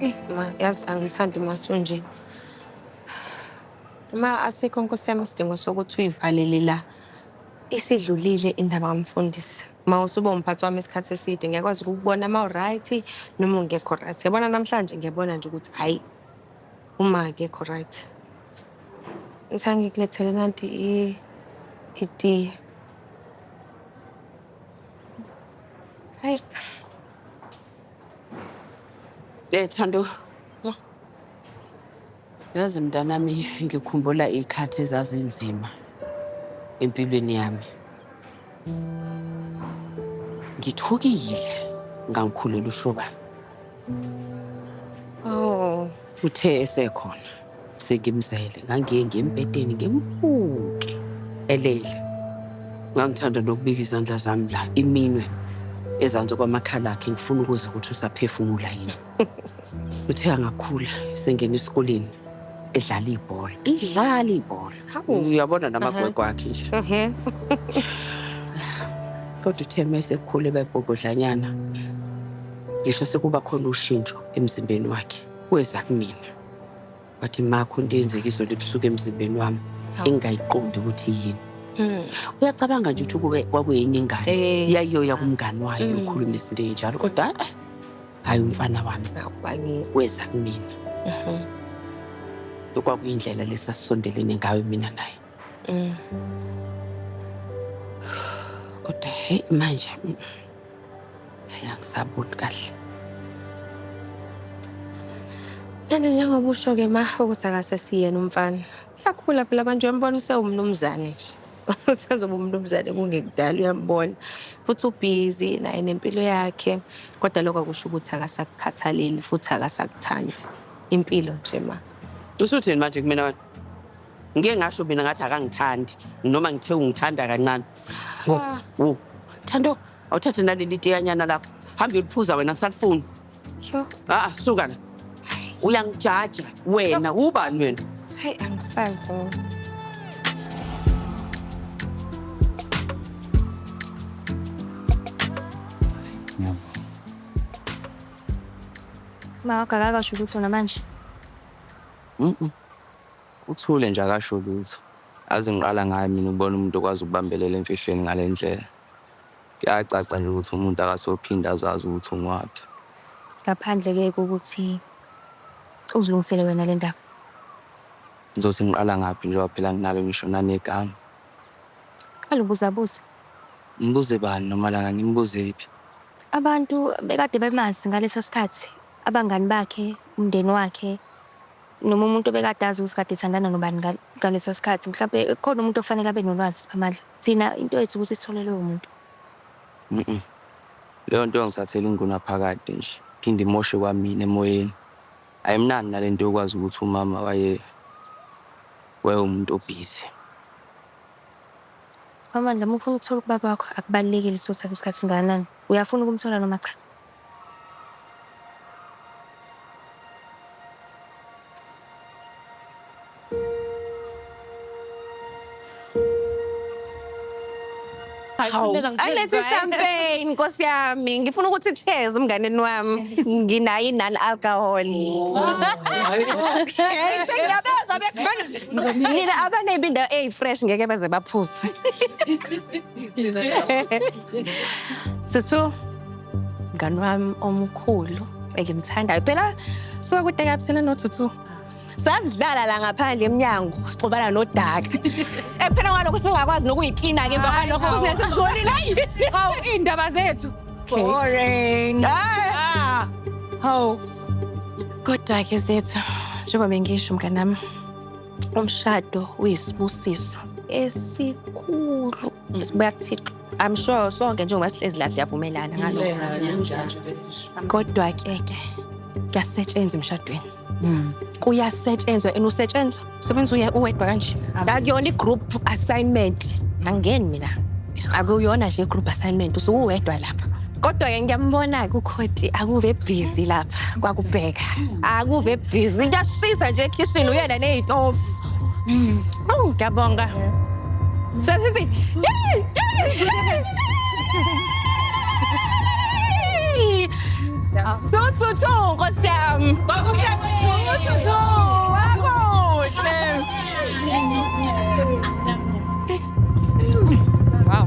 Eh, ma, yazi angithandi masunje. Uma asikho nkosi yami isidingo sokuthi uyivalele la. Isidlulile indaba kamfundisi. Ma usuba umphathi wami isikhathi eside ngiyakwazi ukukubona ma uright noma ungekho right. Yabona namhlanje ngiyabona nje ukuthi hayi uma akekho right. Ngithanga ngikulethele nanti i itiye. Hayi. Eh Thando. Yazi mntanami ngikhumbula ikhathi ezazinzima empilweni yami. Ngithukile ngangikhulela ushobana. Oh. Uthe esekhona. Sengimzele ngangiye ngembedeni ngimbuke elele. Ngangithanda nokubika izandla zami la iminwe ezansi kwamakhala akhe ngifuna ukuze ukuthi usaphefumula yini. Uthe angakhula sengena esikoleni edlala ibhola. Idlala ibhola. Hawu. Uyabona namagwegwe akhe nje. Ehe. Kodwa uthe uma esekhula eba ibhobhodlanyana ngisho sekuba khona ushintsho emzimbeni wakhe weza kumina. wathi makho into eyenzeka izolo ebusuku emzimbeni wami engingayiqondi ukuthi yini hmm. uyacabanga nje ukuthi kube kwakuyini ingane eh. yayiyoya kumngani wayo hmm. ukhuluma izinto ey'njalo kodwa eh, hhayi umfana wami weza kumina mhm. kwakuyindlela lesasisondelene ngayo mina naye Mm. Kodwa hey manje mm, hayi angisaboni kahle. Kanti njengoba usho ke ma ukuthi akase siyena umfana. Uyakhula phela manje uyambona usewumnumzane nje. Usezoba umnumzane kungekudala uyambona. Futhi ubhizi naye nempilo yakhe. Kodwa lokho akusho ukuthi akasakukhathaleli futhi akasakuthandi. Impilo nje ma. Usuthini manje kumina wena? ngike ngasho mina ngathi akangithandi noma ngithe ungithanda kancane wo wo thando awuthathe naleli tiyanyana lakho hambe uyoliphuza wena ngisalifuni Yho, a suka la uyangijaja wena ubani wena hayi angisazi mina. Uma wakho akakasho ukuthi wena manje. Mm-mm. Uthule nje akasho lutho. Yazi ngiqala ngaye mina ukubona umuntu okwazi ukubambelela emfihlweni ngalendlela. Kuyacaca nje ukuthi umuntu akasophinde azazi ukuthi ungwaphi. Ngaphandle ke kokuthi uzilungisele wena le ndaba. Ngizothi ngiqala ngaphi njengoba phela nginalo ngisho nanegama. Qala ubuzabuze. Ngibuze bani nomalanga ngimbuzephi? Abantu bekade bemazi ngalesa sikhathi, abangani bakhe, umndeni wakhe. Noma umuntu obekade azi ukuthi kade ethandana nobani ngalesa sikhathi mhlawumpe kukhona umuntu okufanele abe nolwazi Siphamandla. Thina into yethu ukuthi sithole lowo muntu. Mhm. Leyo nto yongithathela ingunaphakade nje. Phinde imoshe kwamina emoyeni. Ayimnandi nalento yokwazi ukuthi umama waye wayewumuntu obhizi. Siphamandla uma ufuna ukuthola ubaba wakho akubalulekile ukuthi uthathe isikhathi singakanani. Uyafuna ukumthola noma cha? Hawu, ayilethe champagne nkosi yami ngifuna ukuthi cheers mnganeni wami nginayo i-non alcohol sengiyabezwa bekhona nina abanebi indawo eyi-fresh ngeke beze baphuze sithu mngani wami omkhulu engimthandayo phela suke kude kabuthina nothuthu sasidlala la ngaphandle emnyango sixobana nodaka ephela kwalokho singakwazi nokuyiklina-ke emva kwalokho kuze sesikolile hayi hawu iy'ndaba zethu boring ah. hawu kodwa-ke zethu njengoba bengisho mnganami umshado uyisibusiso esikhulu Sibuya kuThixo. I'm sure sonke njengoba sihlezi la siyavumelana ngalokho. Kodwa ke ke kuyasetshenzwa emshadweni. Kuyasetshenzwa and usetshenzwa sebenza uye uwedwa kanje. Akuyona i-group assignment. Angeni mina. Akuyona nje i-group assignment usuwedwa lapha. Kodwa-ke ngiyambona-ke ukhoti akuve busy lapha kwakubheka. Akuve busy. Kuyashisa nje ekhishini uyena nezitofu. Awu ngiyabonga. Sesithi yey yey. Thu thu thu nkosi yami. Kwakuhle thu thu thu. Wakuhle. Wow.